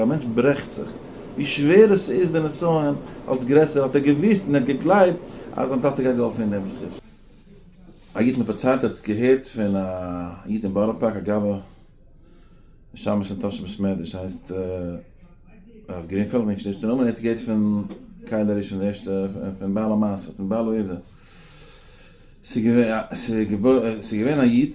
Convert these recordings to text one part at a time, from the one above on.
א מענטש ברעכט זיך, ווי שווער עס איז די נסיון, אלס גרעסער האט ער געוואוסט און ער האט געגלייבט אז זיין טאטע גייט געהאלפן אין דעם זכות. א איד מיר פארציילט ער האט עס געהערט פון א איד אין בארא פארק א גאבע נשמת אין טאהש בית מדרש הייסט הרב גרינפעלד נישט דער ערשטער נאמען ער האט עס געהערט פון קהל הראשון די ערשטע פון בעל המעשה פון בעל העובדה ס'איז געווען א איד.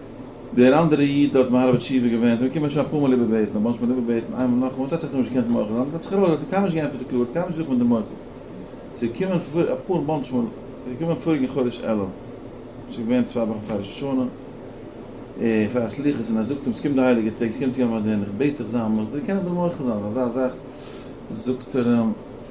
דער אנדערע איד האט מהרבא תשובה געווען, זיי האבן געקומען שוין אפאר מאל איבערבעטן, אבער מ'האט נישט געקענט איבערבעטן, איינמאל נאכאמאל, ס'האט זיך טאקע נישט געקענט מוחל זיין, אבער ס'האט זיך ארויס, האט ער קיינמאל נישט געענטפערט די קללה, האט קיינמאל נישט געזאגט מיט די מוחל, ס'איז געקומען פאר אפאר באנטש מאל, ס'איז געקומען פאריגן חודש אלול, ס'איז געווען צוויי וואכן פאר ראש השנה, און פאר א סליחות, און ער זאגט אים, ס'קומט די הייליגע טעג, ס'קומט יום הדין, איך בעט דיך זיי א מוחל, זיי קענען דיר מוחל זיין, אזא זאך, זאגט ער אים,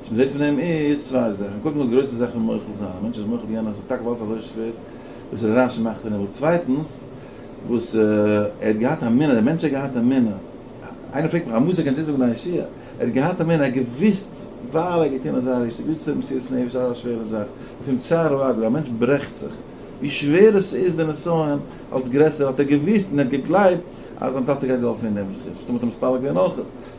וואס מ'זעט פון דעם איז צוויי זאכן, קודם כל די גרויסע זאך פון מוחל זיין, א מענטש איז מוחל יענעם אז ס'איז טאקע ווייל ס'איז אזוי שווער וואס ר' רשי מאכט און ער וויל, צווייטנס וואס ער האט געהאט א מינע, דער מענטש האט געהאט א מינע, איינער פרעגט מיך א מוסר קענסט צוזאגן א ישועה, ער האט געהאט א מינע, ער האט געוואוסט ווייל ער האט געטון אזא ריש, ער האט געוואוסט אז ס'איז מסירות נפש אזא שווערע זאך, לפעמים צער הוא הגורל, א מענטש ברעכט זיך, ווי שווער עס איז די נסיון, אלץ גרעסער האט ער געוואוסט און ער האט געגלייבט אז זיין טאטע גייט געהאלפן אין דעם זכות, פתאום האט ער מתפלל געווען אויך.